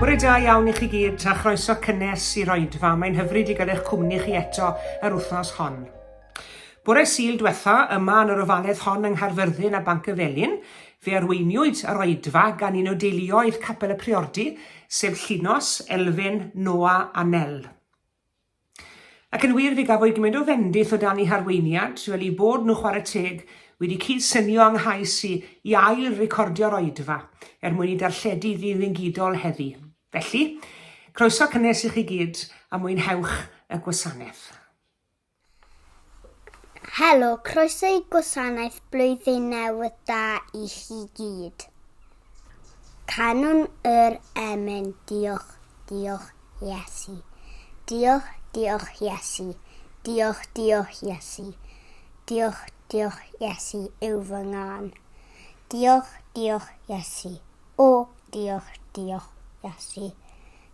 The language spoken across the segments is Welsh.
Bore da iawn i chi gyd a chroeso cynnes i'r oedfa. Mae'n hyfryd i gael eich cwmni chi eto yr wythnos hon. Bore Sul dwetha, yma yn yr ofaledd hon yng Nghaerfyrddin a Banc y Felin, fe arweiniwyd yr oedfa gan un o deuluoedd Capel y Priordy, sef Llinos, Elfyn, Noa a Nel. Ac yn wir, fe gafwyd gymaint o fendith o dan eu harweiniad, fel i bod nhw chwarae teg wedi cyd-synio yng nghais i i ail-recordio'r oedfa, er mwyn ei darlledu ddiddengidol heddi. Felly, croeso cynnes i chi gyd, a mwynhewch y gwasanaeth. Helo, croeso i Gwasanaeth Blwyddyn Newydd Da i chi gyd. Canwn yr emyn Diolch, diolch Iesu. Diolch, diolch Iesu. Diolch, diolch Iesu. Diolch, diolch Iesu yw fy ngân. Diolch, diolch Iesu. O, diolch, diolch Iesu.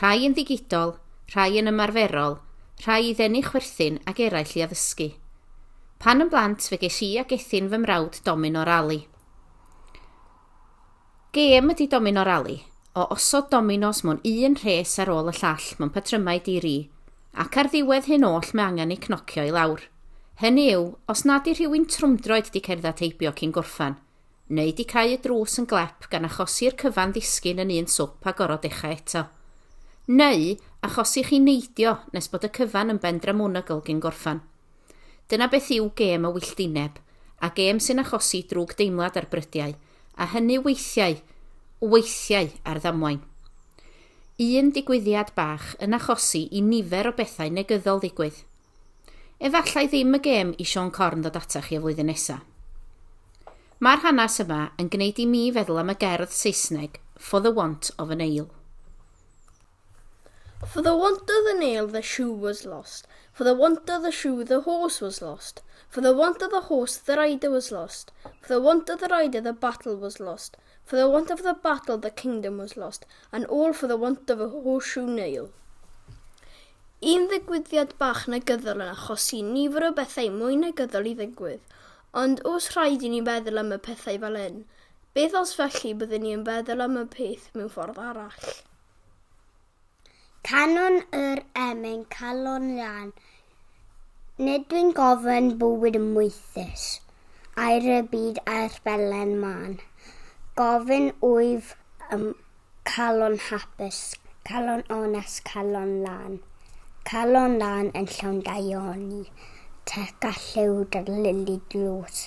Rhai yn ddigidol, rhai yn ymarferol, rhai i ddenu chwerthin ac eraill i addysgu. Pan yn blant fe ges i a gethyn fy mrawd Domino Rali. Gêm ydy Domino Rali, o osod dominos mewn un rhes ar ôl y llall mewn patrymau di-ri, ac ar ddiwedd hyn oll mae angen eu cnocio i lawr. Hynny yw, os nad yw rhywun trwmdroed di cerdded heibio cyn gorffan, neu 'di cau y drws yn glep gan achosi'r cyfan ddisgyn yn un swp a gorfod dechau eto. Neu, achosi chi neidio nes bod y cyfan yn ben dramonygl gyn gorffan. Dyna beth yw gêm y wylltineb, a gêm sy'n achosi drwg deimlad ar brydiau, a hynny weithiau, weithiau ar ddamwain. Un digwyddiad bach yn achosi i nifer o bethau negyddol ddigwydd. Efallai ddim y gêm i Siôn Corn ddod ata chi y flwyddyn nesa. Mae'r hanes yma yn gwneud i mi feddwl am y gerdd Saesneg For the want of a nail. For the want of the nail the shoe was lost, for the want of the shoe the horse was lost, for the want of the horse the rider was lost, for the want of the rider the battle was lost, For the want of the battle the kingdom was lost, and all for the want of a horseshoe nail. Un ddigwyddiad bach negyddol yn achosi nifer o bethau mwy negyddol i ddigwydd, ond os rhaid i ni feddwl am y pethau fel hyn, beth os felly byddwn ni yn feddwl am y peth mewn ffordd arall? Canwn yr emyn calon lân, Nid dwi'n gofyn bywyd moethus, Air y byd a'r belen mân, Gofyn wyf am calon hapus, Calon onest, calon lân, Calon lân yn llawn daioni, Teg a lliw dyrlili dlws.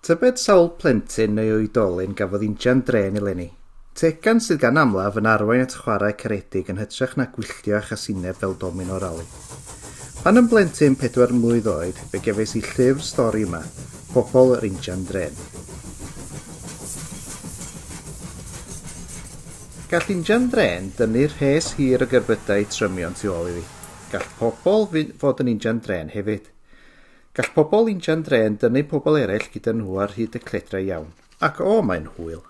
Tybed sawl plentyn neu oedolyn gafodd injan drên eleni? Tegan sydd gan amlaf yn arwain at chwarae caredig yn hytrach na gwylltio a chasineb fel domino rali. Pan yn blentyn pedwar mlwydd oed, fe gefais i llyfr stori yma, Pobol yr Injan Drên. Gall injan drên dynnu rhes hir o gerbydau trymion tu ôl iddi. Gall pobol fod yn injan drên hefyd. Gall pobl injan drên dynnu pobl eraill gyda nhw ar hyd y cledrau iawn. Ac o, mae'n hwyl.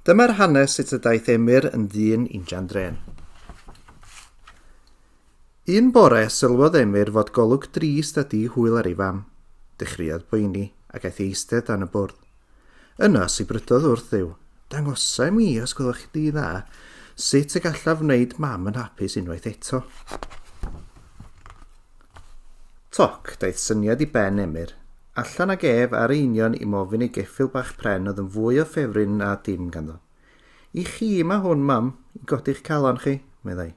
Dyma'r hanes sut y daeth Emyr yn ddyn injan drên. Un bore, sylwodd Emyr fod golwg drist a di hwyl ar ei fam. Dechreuodd poeni, ac aeth eistedd dan y bwrdd. Yna, sibrydodd wrth Dduw, Dangosa i mi, os gwelwch chi di dda, sut y gallaf wneud mam yn hapus unwaith eto. Toc, daeth syniad i ben Emyr. Allan ag ef ar ei union i mofyn ei geffil bach pren oedd yn fwy o ffefryn na dim ganddo. I chi mae hwn, mam, i godi'ch calon chi, meddai.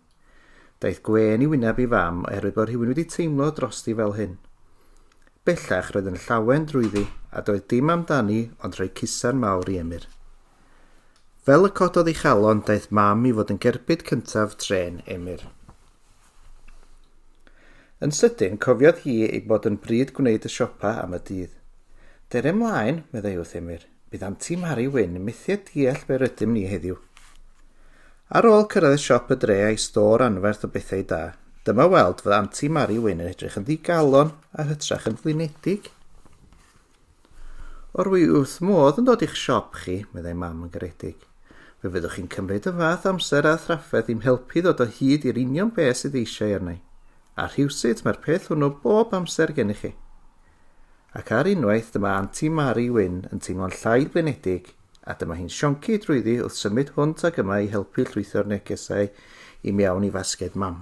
Daeth gwên i wyneb ei fam oherwydd bod rhywun wedi teimlo drosti fel hyn. Bellach roedd yn llawen drwyddi a doedd dim amdani ond rhoi cusan mawr i Emyr. Fel y cododd ei chalon, daeth mam i fod yn gerbyd cyntaf tren Emyr. Yn sydyn, cofiodd hi ei bod yn bryd gwneud y siopa am y dydd. Dere mlaen, meddai wrth Emyr. Bydd Anti Mari Wyn yn methu deall be rydym ni heddiw. Ar ôl cyrraedd siop y dre a'i stor anferth o bethau da, dyma weld fod Anti Mari Wyn yn edrych yn ddigalon a hytrach yn flinedig. O'r wy wrth modd yn dod i'ch siop chi, meddai mam yn garedig. Fe fyddwch chi'n cymryd y fath amser a thrafferth i'm helpu ddod o hyd i'r union beth sydd eisiau arnau. A rhywsut mae'r peth hwnnw bob amser gennych chi. Ac ar unwaith dyma Anti Mari Wyn yn teimlo'n llai blinedig a dyma hi'n sionci drwyddi wrth symud hwnt ag yma i helpu llwytho'r negesau i mewn i fasged mam.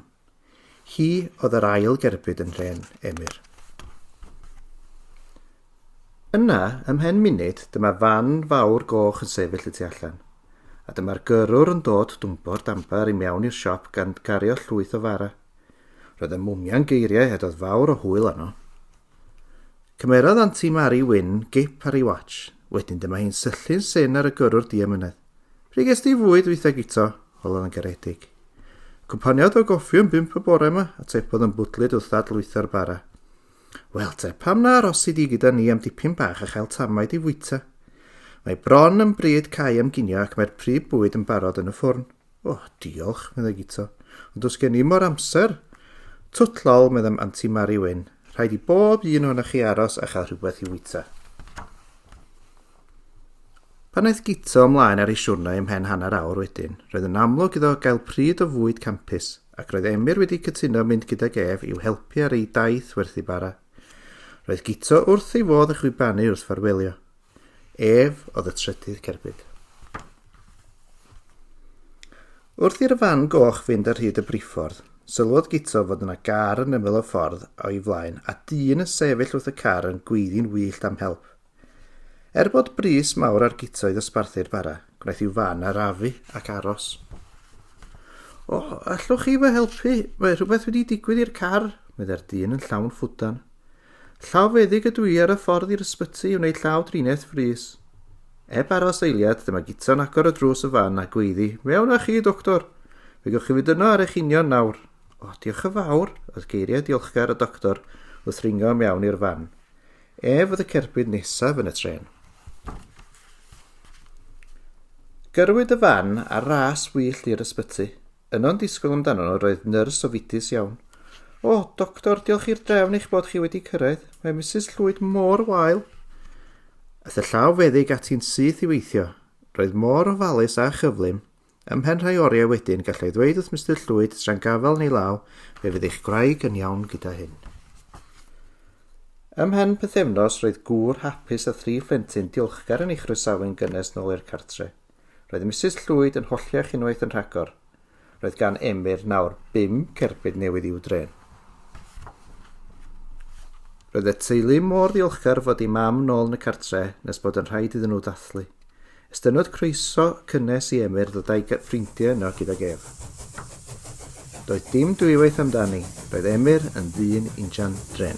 Hi oedd yr ail gerbyd yn nhrên Emyr. Yna, ymhen munud, dyma fan fawr goch yn sefyll y tu allan, a dyma'r gyrrwr yn dod dwmpo'r damper i mewn i'r siop gan gario llwyth o fara. Roedd y mwmian geiriau hedodd fawr o hwyl arno. Cymerodd Anti Mari Wyn gip ar ei watch. Wedyn dyma hi'n syllu'n syn ar y gyrrwr diamynedd. Pryd ges di fwyd weitha gito? Holodd yn garedig. Cwmpaniodd o goffi yn bimp y bore yma, a tepodd yn bwdlyd wrth ddadlwytho'r bara. Wel te, pam na arosi di gyda ni am dipyn bach a chael tamaid i fwyta? Mae bron yn bryd cael am ginio ac mae'r prif bwyd yn barod yn y ffwrn. O, oh, diolch, meddai Gito. Ond os gen i mor amser... Twt lol, meddai Anti Mari Wyn. Rhaid i bob un o'na chi aros a chael rhywbeth i wyta. Pan aeth Gito ymlaen ar ei siwrnau ymhen hanner awr wedyn, roedd yn amlwg iddo gael pryd o fwyd campus, ac roedd Emyr wedi cytuno mynd gydag ef i'w helpu ar ei daith werthu bara. Roedd Gito wrth ei fodd yn chwibanu wrth farwelio. Ef oedd y trydydd cerbyd. Wrth i'r fan goch fynd ar hyd y briffordd, sylwodd Gito fod yna gar yn ymyl y ffordd o'i flaen a dyn yn sefyll wrth y car yn gweiddi'n wyllt am help. Er bod bris mawr ar Gito i ddosbarthu'r bara, gwnaeth i'w fan arafu ac aros. O, allwch chi fy helpu? Mae rhywbeth wedi digwydd i'r car, meddai'r dyn yn llawn ffwdan. Llaw feddyg ydw i ar y ffordd i'r ysbyty i wneud llaw driniaeth frys. Eb aros eiliad, dyma Gita'n agor y drws y fan a gweiddi, Mewn â chi, doctor! Fe gewch chi fynd yno ar eich union nawr. O, diolch yn fawr, oedd geiriau diolchgar y doctor wrth ringo mewn i'r fan. Ef oedd y cerbyd nesaf yn y tren. Gyrwyd y fan ar ras wyllt i'r ysbyty. Yno'n disgwyl amdano nhw roedd nyrs ofidus iawn. O, doctor, diolch i'r drefn eich bod chi wedi cyrraedd. Mae Mrs Llwyd mor wael. Aeth y llaw feddyg ati'n syth i weithio. Roedd mor ofalus a chyflym. Ymhen rhai oriau wedyn, gallai ddweud wrth Mr Llwyd, straen gafel neu law, fe fydd eich gwraig yn iawn gyda hyn. Ymhen pethefnos, roedd gŵr hapus a thri phlentyn diolchgar yn ei chroesawu'n gynnes nôl i'r cartre. Roedd Misus Llwyd yn holliach unwaith yn rhagor. Roedd gan Emyr nawr bum cerbyd newydd i'w drên. Roedd y teulu mor ddiolchgar fod ei mam nôl yn y cartre nes bod yn rhaid iddyn nhw ddathlu. Estynodd croeso cynnes i Emyr ddod â'i ffrindiau yno gydag ef. Doedd dim dwywaith amdani, roedd Emyr yn ddyn injan dren.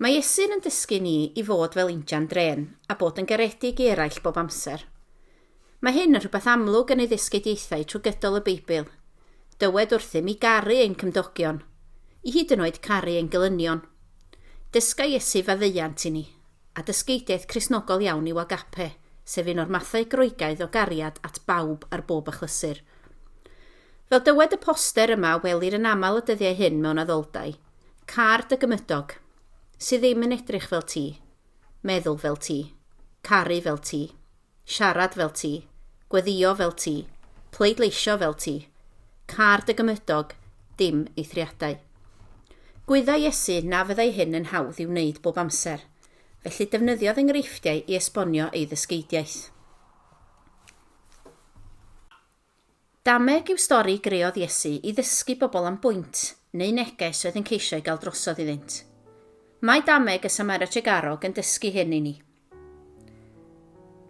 Mae Iesu'n yn dysgu ni i fod fel injan drên a bod yn garedig i eraill bob amser. Mae hyn yn rhywbeth amlwg yn ei ddysgeidiaethau trwy gydol y Beibl. Dywed wrthym i garu ein cymdogion, i hyd yn oed caru ein gelynion. Dysga Iesu faddeuant i ni, a dysgeidiaeth Cristnogol iawn yw agape, sef un o'r mathau Groegaidd o gariad at bawb ar bob achlysur. Fel dywed y poster yma, welir yn aml y dyddiau hyn mewn addoldai, Car dy gymydog. Sy ddim yn edrych fel ti. Meddwl fel ti. Caru fel ti. Siarad fel ti. Gweddio fel ti. Pleidleisio fel ti. Car dy gymydog, dim eithriadau. Gwyddai Iesu na fyddai hyn yn hawdd i'w wneud bob amser, felly defnyddiodd enghreifftiau i esbonio ei ddysgeidiaeth. Dameg yw stori greodd Iesu i ddysgu bobl am bwynt neu neges oedd yn ceisio ei gael drosodd iddynt. Mae dameg y Samera Tregarog yn dysgu hyn i ni.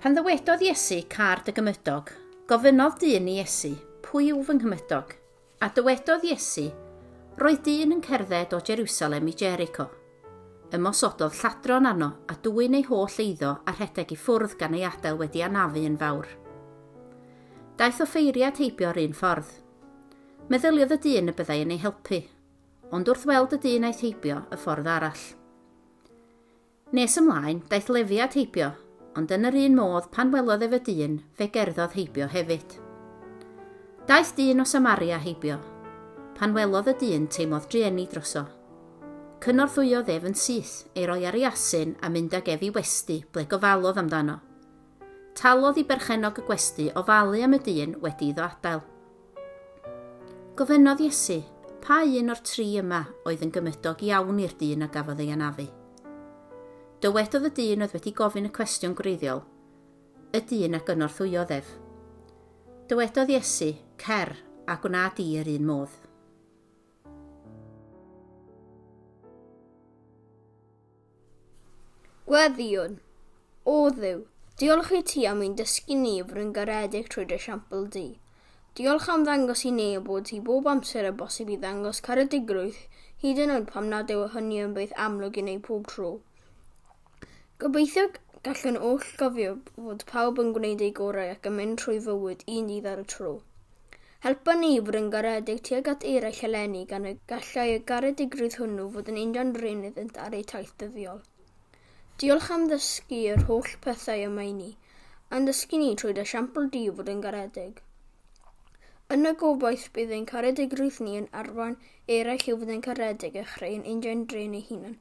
Pan ddywedodd Iesu, Car dy gymydog, gofynnodd dyn i Iesu, Pwy yw fy nghymydog? A dywedodd Iesu, Roedd dyn yn cerdded o Jerusalem i Jericho. Ymosododd lladron arno a dwyn ei holl eiddo a rhedeg i ffwrdd gan ei adael wedi anafu yn fawr. Daeth offeiriad heibio yr un ffordd. Meddyliodd y dyn y byddai yn ei helpu, ond wrth weld y dyn aeth heibio y ffordd arall. Nes ymlaen, daeth Lefi at heibio, ond yn yr un modd pan welodd ef y dyn, fe gerddodd heibio hefyd. Daeth dyn o Samaria heibio. Pan welodd y dyn, teimlodd drueni droso. Cynorthwyodd ef yn syth, ei roi ar ei asyn a mynd ag ef i westy ble gofalodd amdano. Talodd i berchennog y gwesty ofalu am y dyn wedi iddo adael. Gofynnodd Iesu, Pa un o'r tri yma oedd yn gymydog iawn i'r dyn a gafodd ei anafu? Dywedodd y dyn oedd wedi gofyn y cwestiwn gwreiddiol, y dyn a gynorthwyodd ef. Dywedodd Iesu, Cer, a gwna di yr un modd. Gweddïwn. O Dduw, diolch i ti am ein dysgu ni i fod yn garedig trwy dy siampl di. Diolch am ddangos i neu bod ti bob amser yn bosib i ddangos caredigrwydd hyd yn oed pam nad yw hynny yn beth amlwg i neu pob tro. Gobeithio gallwn oll gofio fod pawb yn gwneud eu gorau ac yn mynd trwy fywyd un dydd ar y tro. Helpon ni i fod yn garedig tuag at eraill eleni gan y gallai y garedigrwydd hwnnw fod yn injan dreunydd iddynt ar eu taith dyddiol. Diolch am ddysgu yr holl pethau yma i ni, a'n dysgu ni trwy dy siampl di i fod yn garedig. Yn y gobaith bydd ein caredigrwydd ni yn arwain eraill i fod yn garedig a chreu ein injan drên eu hunan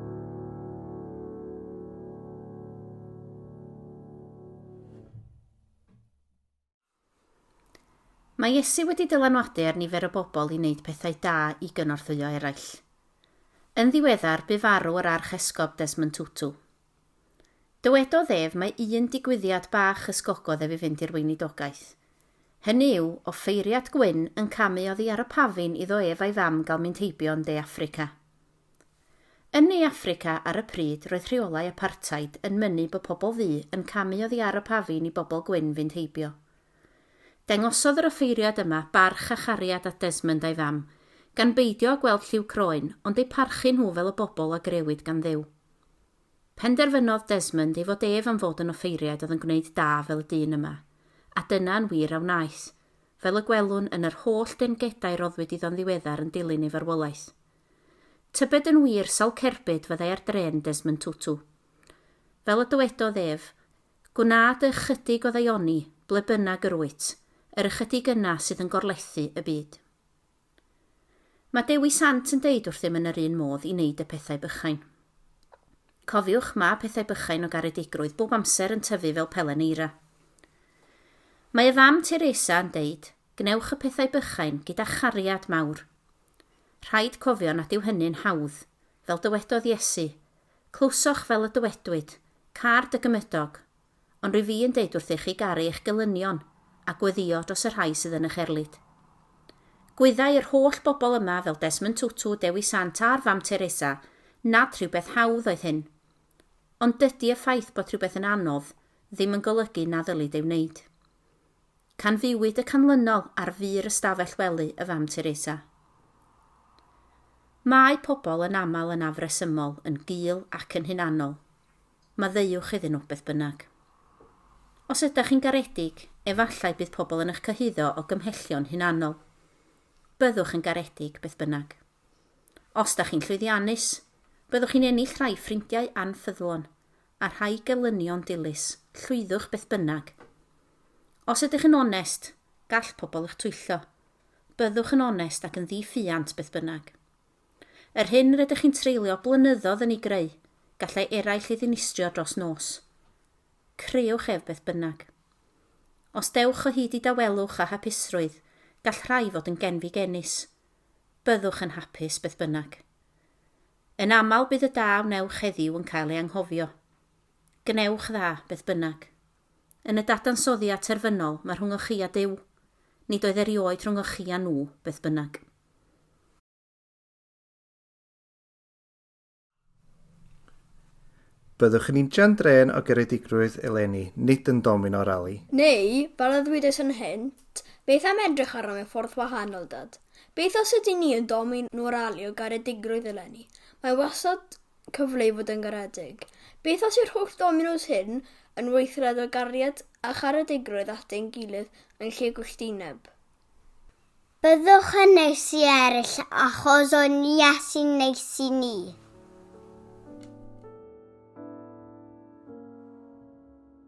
Mae Iesu wedi dylanwadu ar nifer o bobl i wneud pethau da i gynorthwyo eraill. Yn ddiweddar, bu farw yr Archesgob Desmond Tutu. Dywedodd ef mae un digwyddiad bach ysgogodd ef i fynd i'r weinidogaeth. Hynny yw, offeiriad gwyn yn camu oddi ar y pafin iddo ef a'i fam gael mynd heibio yn De Affrica. Yn Ne Affrica ar y pryd roedd rheolau apartheid yn mynnu bod pobl ddu yn camu oddi ar y pafin i bobl gwyn fynd heibio. Dangosodd yr offeiriad yma barch a chariad at Desmond a'i fam, gan beidio â gweld lliw croen ond eu parchu nhw fel y bobl a grëwyd gan Dduw. Penderfynodd Desmond ei fod ef am fod yn offeiriad oedd yn gwneud da fel y dyn yma, a dyna yn wir a wnaeth, fel y gwelwn yn yr holl dengedau roddwyd iddo'n ddiweddar yn dilyn ei farwolaeth. Tybed yn wir sawl cerbyd fyddai ar drên Desmond Tutu? Fel y dywedodd ef, Gwna dy ychydig o ddaioni ble bynnag yr wyt, yr ychydig yna sydd yn gorlethu y byd. Mae Dewi Sant yn deud wrthym yn yr un modd i wneud y pethau bychain. Cofiwch, mae pethau bychain o garedigrwydd bob amser yn tyfu fel pelen eira. Mae y fam Teresa yn deud, Gwnewch y pethau bychain gyda chariad mawr. Rhaid cofio nad yw hynny'n hawdd. Fel dywedodd Iesu, Clywsoch fel y dywedwyd, 'Car dy gymydog'. Ond rwy fi yn deud wrthych chi garu eich gelynion, a gweddïo dros y rhai sydd yn eich erlid. Gwyddai yr holl bobl yma, fel Desmond Tutu, Dewi Sant a'r Fam Teresa, nad rhywbeth hawdd oedd hyn. Ond dydy y ffaith bod rhywbeth yn anodd ddim yn golygu na ddylid ei wneud. Canfuwyd y canlynol ar fur ystafell wely y Fam Teresa. Mae pobl yn aml yn afresymol, yn gul ac yn hunanol. Maddeuwch iddyn nhw, beth bynnag. Os ydych chi'n garedig, efallai bydd pobl yn eich cyhuddo o gymhellion hunanol. Byddwch yn garedig, beth bynnag. Os da chi'n llwyddiannus, byddwch chi'n ennill rhai ffrindiau anffyddlon, a rhai gelynion dilys, llwyddwch beth bynnag. Os ydych yn onest, gall pobl eich twyllo. Byddwch yn onest ac yn ddi-ffiant beth bynnag. Yr hyn rydych chi'n treulio blynyddoedd yn ei greu, gallai eraill ei ddinistrio dros nos. Creewch ef beth bynnag. Os dewch o hyd i dawelwch a hapusrwydd, gall rhai fod yn genfigennus. Byddwch yn hapus beth bynnag. Yn aml bydd y da a wnewch heddiw yn cael ei anghofio. Gwnewch dda, beth bynnag. Yn y dadansoddiad terfynol, mae rhwng o chi a Duw. Nid oedd erioed rhwng o chi a nhw, beth bynnag. Byddwch yn injan drên o geredigrwydd eleni, nid yn domino rali. Neu, fel y ddwedais yn hynt, beth am edrych arno mewn ffordd wahanol, Dad? Beth os ydyn ni yn domin moralio garedigrwydd eleni? Mae wastad cyfle i fod yn garedig. Beth os yw'r holl dominos hyn yn weithred o gariad a charedigrwydd at ein gilydd yn lle gwylltineb? Byddwch yn neis i eraill achos o'n Iesu'n neis i ni.